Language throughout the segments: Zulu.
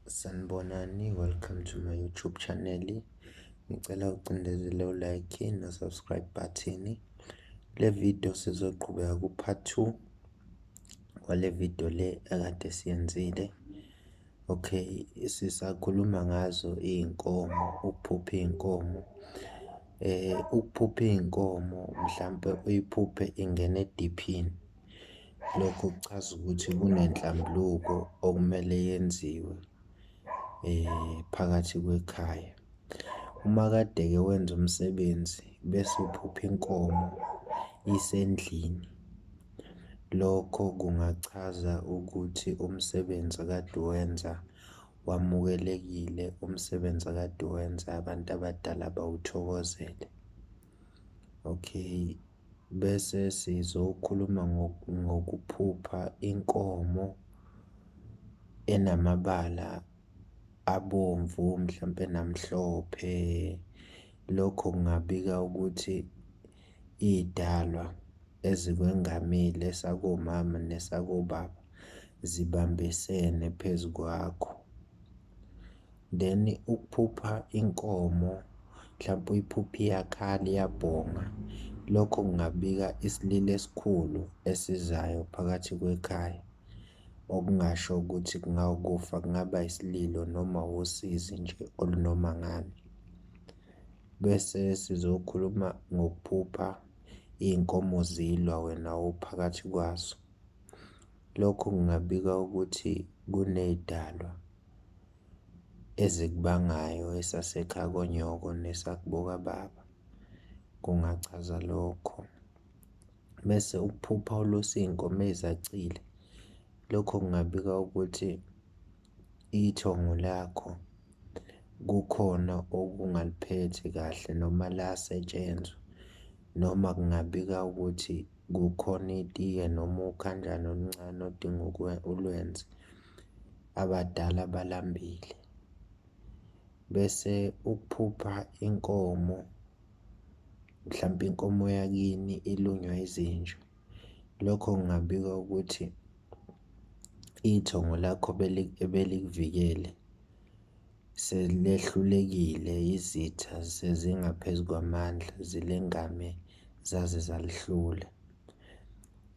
Sanibonani, welcome to my YouTube channel. Ngicela ucindezele u-like no-subscribe button. Le video sizoqhubeka ku-part 2 wale video le ekade siyenzile. Okay, sisakhuluma ngazo iy'nkomo, ukuphupha iy'nkomo. Eh, ukuphupha iy'nkomo mhlampe uyiphuphe ingene ediphini. Lokho kuchaza ukuthi kunenhlambuluko okumele yenziwe phakathi kwekhaya. Uma kade-ke wenza umsebenzi bese uphupha inkomo isendlini, lokho kungachaza ukuthi umsebenzi akade uwenza wamukelekile, umsebenzi akade uwenza abantu abadala bawuthokozele, okay. bese sizokhuluma ngokuphupha inkomo enamabala abomvu mhlampe namhlophe. Lokho kungabika ukuthi iy'dalwa ezikwengamile esakomama nesakobaba zibambisene phezu kwakho. then ukuphupha inkomo mhlawumpe uyiphuphe iyakhala iyabhonga lokho kungabika isililo esikhulu esizayo phakathi kwekhaya okungasho ukuthi kungawukufa kungaba isililo noma usizi nje olunoma ngani bese sizokhuluma ngokuphupha iy'nkomo zilwa wena uphakathi kwazo lokho kungabika ukuthi kuney'dalwa ezikubangayo esasekhaya konyoko nesakubokababa kungachaza lokho. Bese ukuphupha ulusa iy'nkomo ezacile, lokho kungabika ukuthi ithongo lakho kukhona okungaliphethe kahle noma lasetshenzwa noma kungabika ukuthi kukhona itiye noma ukhanjana oluncane odinga ulwenze. abadala balambile bese ukuphupha inkomo mhlampe inkomo yakini ilunywa izinja lokho ngingabika ukuthi ithongo lakho ebelikuvikele selehlulekile izitha sezingaphezu kwamandla zilengame zaze zalihlula.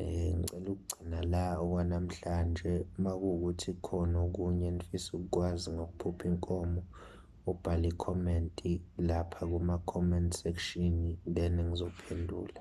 Eh, ngicela ukugcina la okwanamhlanje uma kuwukuthi khona okunye enifisa ukukwazi ngokuphupha inkomo, ubhale ikhomenti lapha kuma-comment section then ngizophendula.